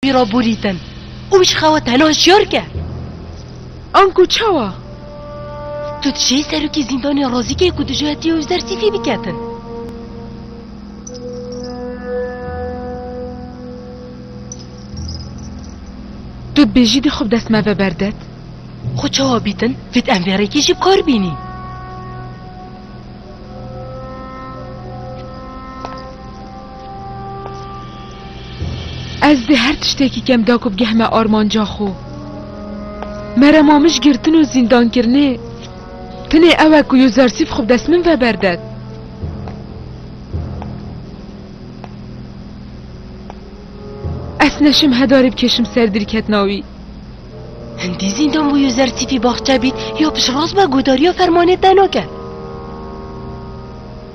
Wî ra borîtin û wî ji xewa te heno hişyar ke. Anku çawa? Tu dişê serokê zîndanê razî kê ku dijî hetiye û ji der sîfî biketin. Tu dibêjî dê xwe bi dest me ve berdet? Xwe çawa bîtin? Vêt em vê rêkê jî bi kar bînîn. Ez dê her tiştekî kem da ku bigehme armanca xwe. Merema min ji girtin û zîndankirinê tenê ew e ku Yuzarsîf xwe bi dest min ve berded. Ez neşim hedarê bikêşim ser dîrketina wî. Hindî zîndan bû Yuzarsîfî baxçe bît ya piştrast be guhdariya fermanê te nake.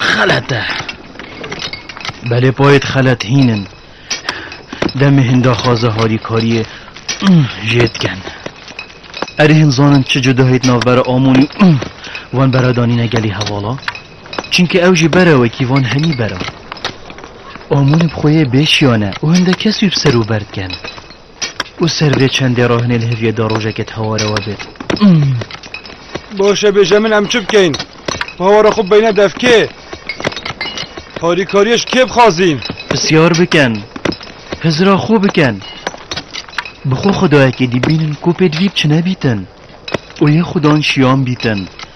Xelet e. Belê payê xelet hîn in. Demê hin daxwaza harîkariyê jê dikin. Erê hin zanin çi cudahît navbera Amonî û wan bera danîne gelê hevala? Çimkî ew jî bera wekî van henî bera. Amonî bi xwe yê bêşiyane û hinde kes wî bi ser û ber dikin. û ser vê çendê re hinê li heviyê de rojekê teware we bêt. Baş e bêje min em çi bikeyn? Pawara xwe beyne dev kê? Harîkariyê ji kê bixwazîn? Pisyar bikin. Hizira xwe bikin. Bi xwe xwedayekê dî bînin ku pêdivî bi çi nebîtin û yê xwedan şiyan bîtin.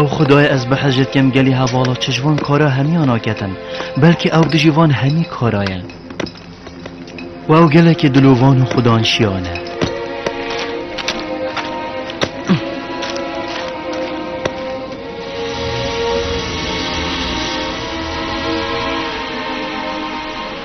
Ew xudayê ez behecê dikim gelî hevala çi ji van kara hemiya naketin, belkî ew dijî van hemî kara ye. Û ew gelekî dilovan û xudan şiyan e.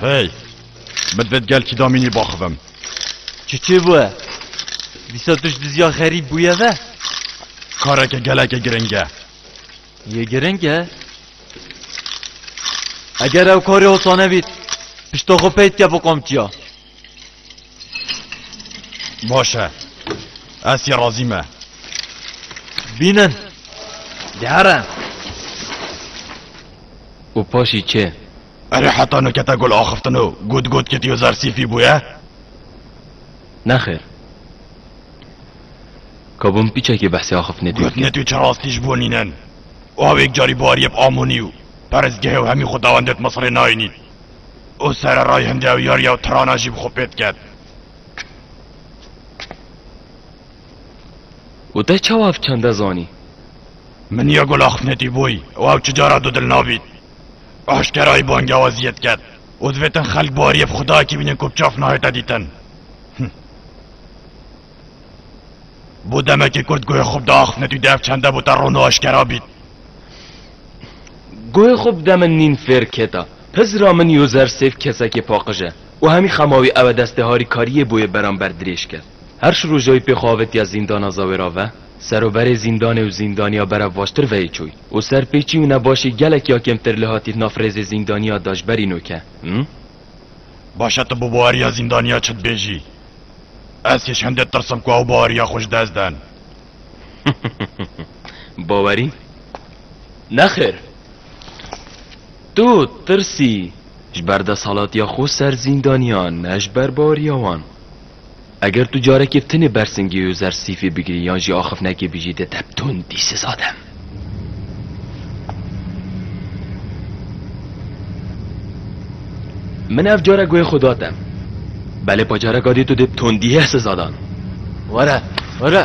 Hey! Min vêt gel kî damînî baxivim. Çi çê bûye? Dîsa tu ji dizya xerîb bûye ve? Kareke geleke giring e. Yê giring e? Eger ew karê hosane bît, pişta xwe pey dike bi qamçiya. Baş e. Ez sî razî me. Bînin. Dihere. û paşî çê. Erê heta nikete gul axiftin û gut gut kitiyo zer sîfî bûye? Nexêr. Kabûn pîçekî behsê axiftinê tê Gotine tu çirastî ji bo nînin. Awêk carî bariyê bi amonî û perizgehê û hemî xwedawendê di Misirê nayînîn. û sererayî hin dewyar yew tirana jî bi xwe pê diket. û te çawa ev çanda zanî? Min ya gul axifnetî bûyî û ew çi cara dûdil nabît. Aşkerayî bangewaziyê diket û divê tin xelk bariyê bi xwedayekî bînin ku bi çav nahête dîtin. Bû demekî kurd guhê xwe bi da axifnetî û di ev çanda bû te ron û aşkera bît. Guhê xwe bide min nîn fêr keta. Pizra min Yozer Sêf kesekê paqij e û hemî xemawî ew e destê harîkariyê bo yê beramber dirêj ke. Her şi rojayî pê xwe avêtiya zîndana Zawêra ve, seroberê zîndanê û zîndaniya berevvaştir veyê çûy û serpêçî û nebaşî gelek ya kêmtir li hatî naf rêzê zîndaniya Dajberî no ke. Him. Baş e tu bi baweriya zîndaniya çi dibêjî. Ez hîş hindê tirsim ku ew baweriya xwe ji dest den. Bawerî? Nexêr. Tu tirsî ji ber desalatiya xwe ser zîndaniyan ne ji ber baweriya wan. Eger tu carekê tenê bersingê û zersîfê bigirî yan jî axifnekê bijî di te bi tundî siza dem. Min ev cara guhê xwe da te. Belê pacareka dî tu dê bi tondîyeh siza dan. Were, were.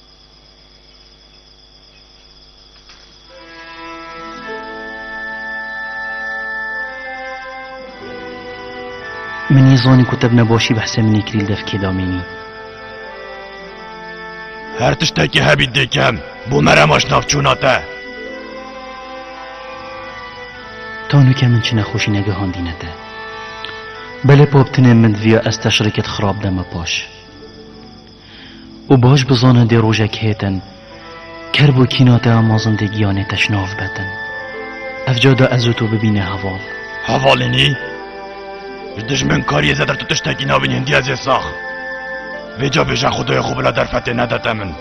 Min yê zanî ku te bi nebaşî bi hesê min ê kirî li devkê de amênî. Her tiştekî hebî dikim bû merem aşnavçûna te. Tanûke min çi nexweşî negihandîne te. Belê paptinên min diviya ez te şirikê di xirab deme paş. Û baş bizane dê rojek hêtin ker bo kîna te a mezin dê giyanê te şnav betin. Evca de ez û tu bibîne heval. Hevalînî? Ji dijmin kariyê zêder tu tiştekî nabînî hindiya zê sax. Vêca bêje xwedayê xwe bila derfetê nedete min.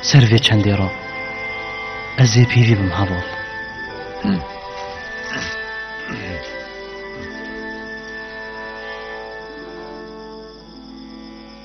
Ser vê çendê re ez ê pêvî bim heval.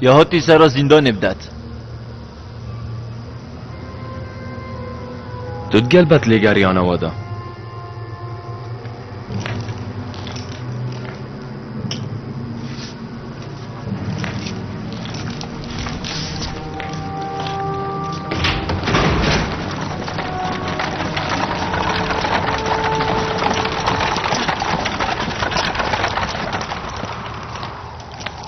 Ya hatî sera zîndanê bidet. Tu digel bet lêgeriyana we de.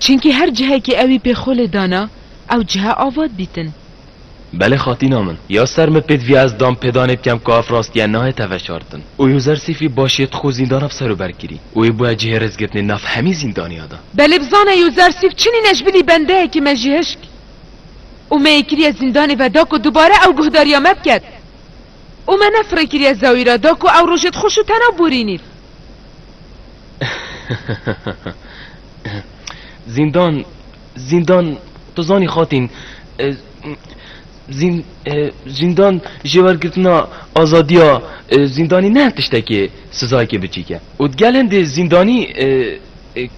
Çinkî her cihekî ewî pê xwe lê dana, ew cihe ava dibîtin. Belê xatîna min. Ya ser min pêd viya ez dam pêdanê bikem ku ev rastiye nayê te veşartin. Û Yuzer Sîfî baş yê tu xwe zîndana bi ser û ber kirî û wê bûye cihê rêzgirtinê nav hemî zîndaniya de. Belê bizane Yuzer Sîf çinî neşbilî bendeyekî me jî hişk û me yê kiriye zîndanê ve da ku dubare ew guhdariya me biket û me nefirê kiriye zewîra da ku ew rojê dixweş û tena borînîr. Zîndan, zîndan, tu zanî xatîn, zîn, zîndan jêwergirtina azadiya zîndanî ne tiştekê sizayekê biçîk e û di gel hindê zîndanî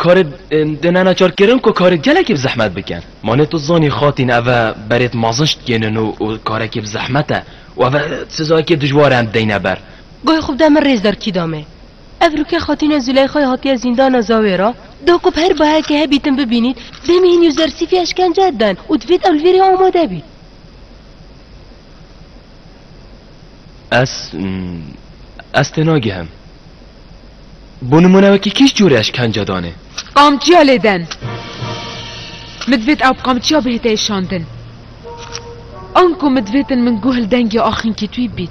karê di nenaçarkirin ku karê gelekî bi zehmet bikin. Ma ne tu zanî xatîn ev e berê di mazin ji dikênin û û karekî bi zehmet e û ev e sizayekî dijwar e em dideyne ber. Goy xwe bide min rêzdar kî da me. Ev Rukiye Xatune Züleyxay hatiye zîndana Zawê re da ku bi her bahekê hebî tim bibînît, dê mîhîn û zersîfî eşkence den û divêt ew li vê rê amade bît. Ez ez tênagihem. Bo nimune wekî kî ji corê eşkence danê? Qamçiya lê den. Min divêt ew bi qamçiya bihête êşandin. Anku min divêtin min guh li dengê axînkî twî bît.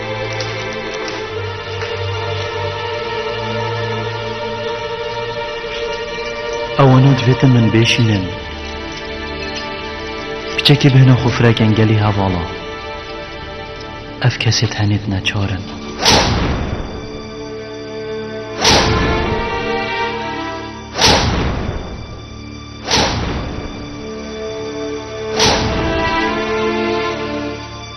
Ewanû divêtin min bêşînin. Piçekê bihna xwe firekin gelî hevala. Ev kesê tenê di neçarin.